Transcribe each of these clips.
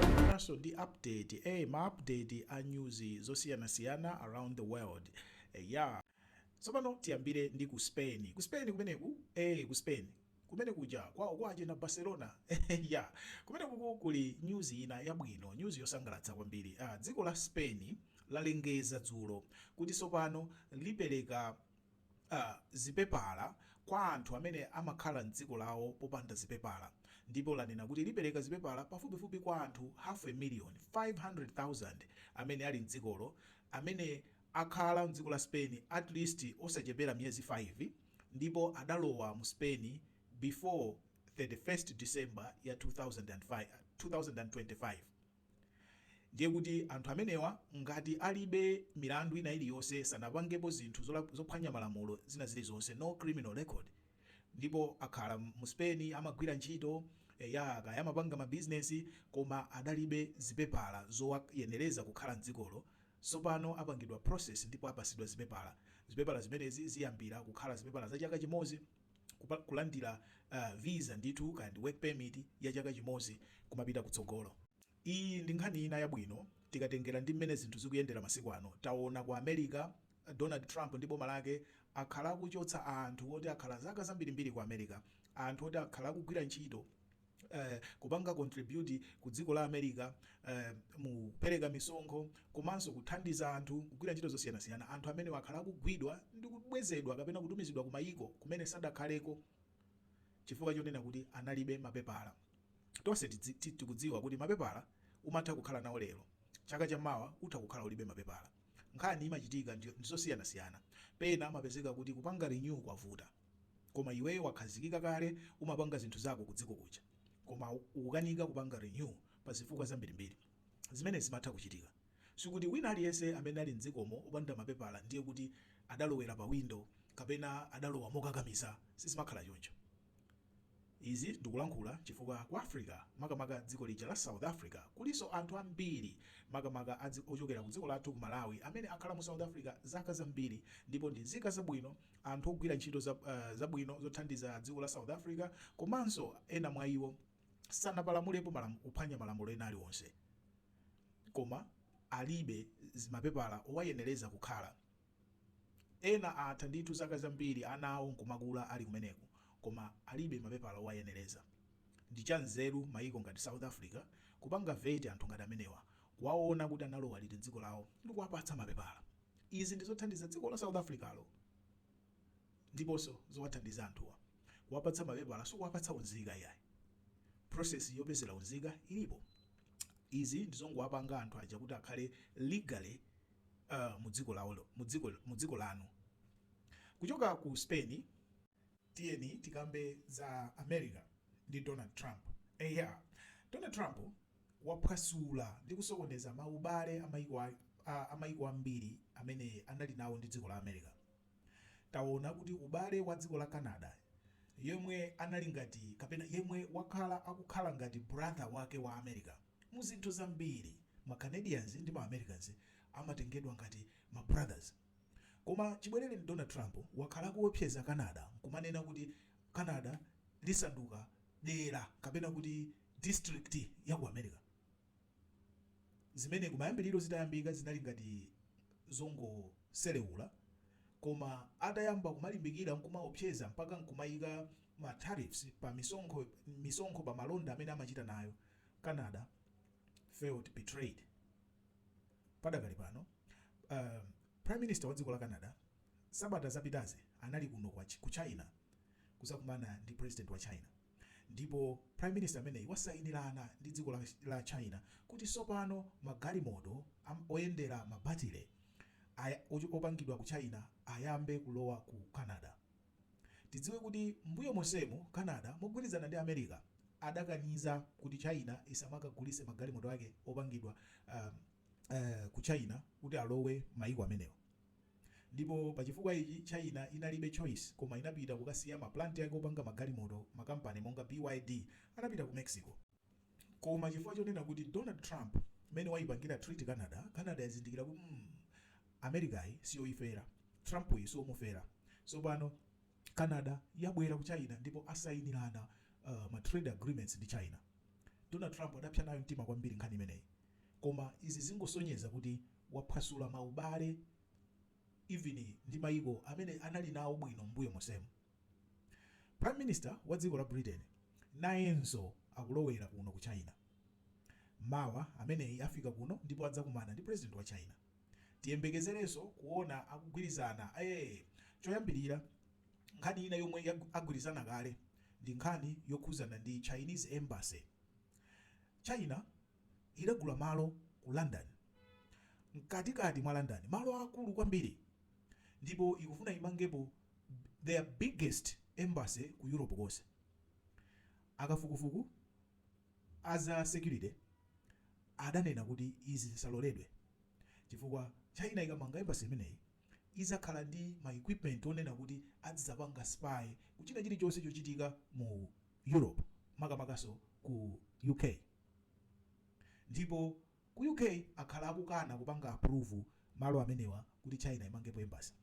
Tabweranso ndi update eh ma update a news zosiyanasiyana around the world eya tsopano tiyambire ndi ku Spain ku Spain kumeneku eh ku Spain kumene kuja kwawo kwa achina Barcelona ya kumeneku kuli news ina yabwino news yosangalatsa kwambiri ah, dziko la Spain lalengeza dzulo kuti tsopano lipereka a zipepala kwa anthu amene amakhala m'dziko lawo popanda zipepala ndipo lanena kuti lipereka zipepala pafupifupi kwa anthu half a million, 500,000, amene ali m'dzikolo amene akhala m'dziko la Spain at least osachepera miyezi 5 ndipo adalowa mu Spain before 31st December ya 2005, 2025. Ndiye kuti anthu amenewa ngati alibe milandu ina iliyonse, sanapangepo zinthu zophwanya malamulo zina zilizonse, no criminal record, ndipo akhala mu Spain, amagwira ntchito, eya, kaya amapanga mabizinesi, koma adalibe zipepala zowayenereza kukhala m'dzikolo, tsopano apangidwa process ndipo apatsidwa zipepala. Zipepala zimenezi ziyambira kukhala zipepala za chaka chimodzi. kupa kulandira a visa ndithu kaya ndi work permit ya chaka chimodzi kumapita kutsogolo. Iyi ndi nkhani ina yabwino tikatengera ndi mmene zinthu zikuyendera masiku ano. Taona ku America Donald Trump ndi boma lake akhala akuchotsa anthu oti akhala zaka zambirimbiri ku America, anthu oti akhala akugwira ntchito. kupanga contribute ku dziko la America mu kupereka misonkho komanso kuthandiza anthu kugwira ntchito zosiyanasiyana, anthu amenewa akhala akugwidwa ndi kubwezedwa kapena kutumizidwa ku mayiko kumene sadakhaleko chifukwa chonena kuti analibe mapepala. Tonse tikudziwa kuti mapepala umatha kukhala nawo lero, chaka cha mawa utha kukhala ulibe mapepala. Nkhani imachitika ndi zosiyanasiyana. Pena amapezeka kuti kupanga renew kwavuta. Koma iweyo wakhazikika kale umapanga zinthu zako kudziko kuja koma ukukanika kupanga renew pa zifukwa zambirimbiri. Zimenezi zimatha kuchitika. Sikuti wina aliyense amene ali m'dzikomo opanda mapepala ndiye kuti adalowera pawindo kapena adalowa mokakamiza. Sizimakhala choncho. Izi ndikulankhula chifukwa ku Africa makamaka dziko lija la South Africa kulinso anthu ambiri makamaka a dzi ochokera ku dziko lathu ku Malawi amene akhala mu South Africa zaka zambiri ndipo ndi nzika zabwino anthu ogwira ntchito za zabwino zothandiza dziko la South Africa komanso ena mwa iwo sanapalamulepo malamu kuphwanya malamulo ena aliwonse koma alibe zimapepala owayenereza kukhala Ena atha ndithu zaka zambiri ana awo nkumakula ali kumeneko koma alibe mapepala owayenereza. Ndi cha nzeru maiko ngati South Africa kupanga veti anthu ngati amenewa, kuwaona kuti analowa liti m'dziko lawo ndi kuwapatsa mapepala. Izi ndi zothandiza dziko la South Africa-lo ndiponso zowathandiza anthuwa. Kuwapatsa mapepala sikuwapatsa unzika iyayi. Process yopezera unzika ilipo. Izi ndi zongowapanga anthu aja kuti akhale legally. mu dziko lawolo, mu dziko, mu dziko lanu. Kuchoka ku Spain. Tiyeni tikambe za America ndi Donald Trump. Eya. Donald Trump waphwasula ndi kusokoneza ma ubale a mayiko a, a, a mayiko ambiri amene anali nawo ndi dziko la America. Taona kuti ubale wa dziko la Canada yemwe anali ngati kapena yemwe wakhala akukhala ngati brother wake wa America mu zinthu zambiri. Ma Canadians ndi ma Americans amatengedwa ngati ma brothers. Koma chibwerereni Donald Trump wakhala akuopseza Canada nkumanena kuti Canada lisanduka dera kapena kuti district ya ku America. zimene kumayambiriro zitayambika zinali ngati zongoseleula koma atayamba kumalimbikira n'kumaopseza mpaka n'kumaika ma tariffs pa mi misonkho pa malonda amene amachita nayo, Canada felt betrayed. Padakali pano, um, Prime Minister wa dziko la Canada sabata zapitazi anali kuno ku China kuzakumana ndi President wa China. Ndipo Prime Minister ameneyi wasayinirana ndi dziko la la China kuti sopano magalimoto am oyendera ma batile aja opangidwa ku China ayambe kulowa ku Canada. Tidziwe kuti m'mbuyo monsemu Canada mogwirizana ndi America adakaniza kuti China isamakagulitse magalimoto ake opangidwa am ku China kuti alowe mayiko amenewa. Ndipo pa chifukwa ichi China inalibe choice koma inapita kukasiya ma plant ake opanga magalimoto ma company monga BYD anapita ku Mexico. Koma chifukwa chonena kuti Donald Trump mmene waipangira treat Canada, Canada yazindikira kuti mm Americayi siyoifera, Trump yi siomufera. Sopano Canada yabwera ku China ndipo asainirana ma trade agreements ndi China. Donald Trump adapsa nayo mtima kwambiri nkhani imeneyi. koma izi zingosonyeza kuti waphwasula ma ubale even ndi maiko amene anali nawo bwino m'mbuyo monsemu. Prime Minister wa dziko la Britain nayenso akulowera kuno ku China. Mawa ameneyi afika kuno ndipo adzakumana ndi President wa China. Tiyembekezerenso kuona akugwirizana eeh! Choyambirira nkhani ina yomwe agwirizana kale ndi nkhani yokhuzana ndi Chinese Embassy. China. idagula malo ku London, mkatikati mwa London, malo aakulu kwambiri, ndipo ikufuna imangepo their biggest embassy ku Europe konse. Akafukufuku a za security adanena kuti izi zisaloledwe chifukwa China ikamanga embassy imeneyi idzakhala ndi ma equipment onena kuti adzidzapanga spy ku china chilichonse chochitika mu Europe, makamakanso ku UK. Ndipo Ku UK akhala akukana kupanga approve malo amenewa kuti China imangepo embassy.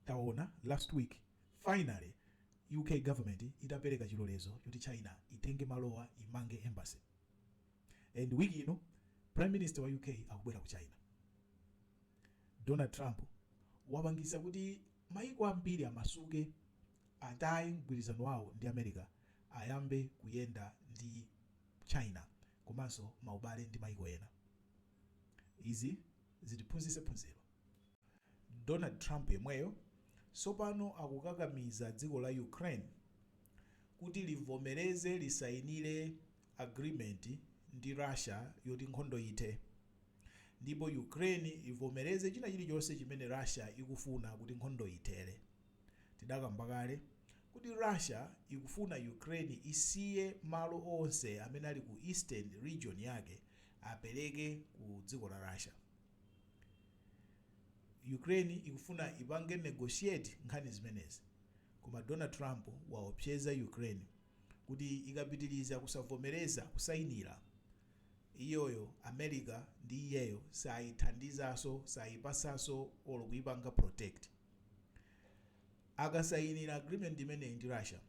Taona last week finally UK government idapeleka chilolezo choti China itenge malowa imange embassy. And week ino Prime Minister wa UK akubwera ku China. Donald Trump wapangitsa kuti maiko ambiri amasuke. Ataye mgwirizano wawo ndi America ayambe kuyenda ndi China komanso maubale ndi maiko ena. Izi zitiphunzitse phunziro. Donald Trump yemweyo tsopano akukakamiza dziko la Ukraine kuti livomereze lisayinire agreement ndi Russia yoti nkhondo ithe ndipo Ukraine ivomereze china chilichonse chimene Russia ikufuna kuti nkhondo ithere. Tidakamba kale kuti Russia ikufuna Ukraine isiye malo onse amene ali ku Eastern region yake apeleke ku dziko la Russia. Ukraine ikufuna ipange negotiate nkhani zimenezi koma Donald Trump waopseza Ukraine kuti ikapitiliza kusavomeleza kusainila, iyoyo America ndi iyeyo saithandizaso, saipatsaso olo kuipanga protect. Akasayinira agreement imeneyi ndi Russia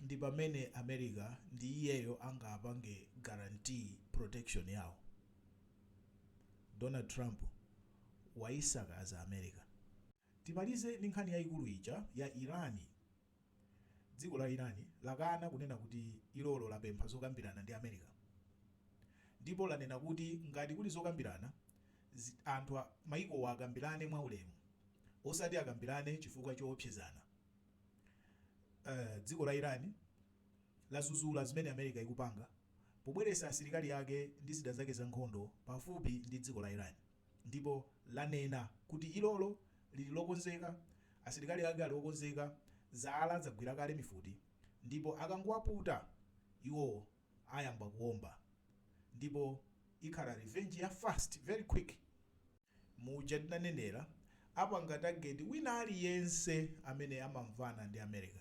ndipamene America ndi iyeyo angapange guarantee protection yawo. Donald Trump wayisakaza America. Timalize ndi nkhani yayikulu ija ya Iran. Dziko la Iran lakana kunena kuti ilolo lapempha zokambirana ndi America ndipo lanena kuti ngati kuli zokambiranazi anthu a mayikowa akambirane mwaulemu osati akambirane chifukwa choopsezana. Dziko la Iran lazuzula zimene America ikupanga pobweretsa asilikali ake ndi zida zake zankhondo pafupi ndi dziko la Iran. Ndipo lanena kuti ilolo liri lokonzeka, asilikali ake ali okonzeka, zala zagwira kale mifuti, ndipo akangowaputa iwo ayamba kuwomba, ndipo ikhala revenge ya fast, very quick. Muja tinanenera, apanga target wina aliyense amene amamvana ndi America.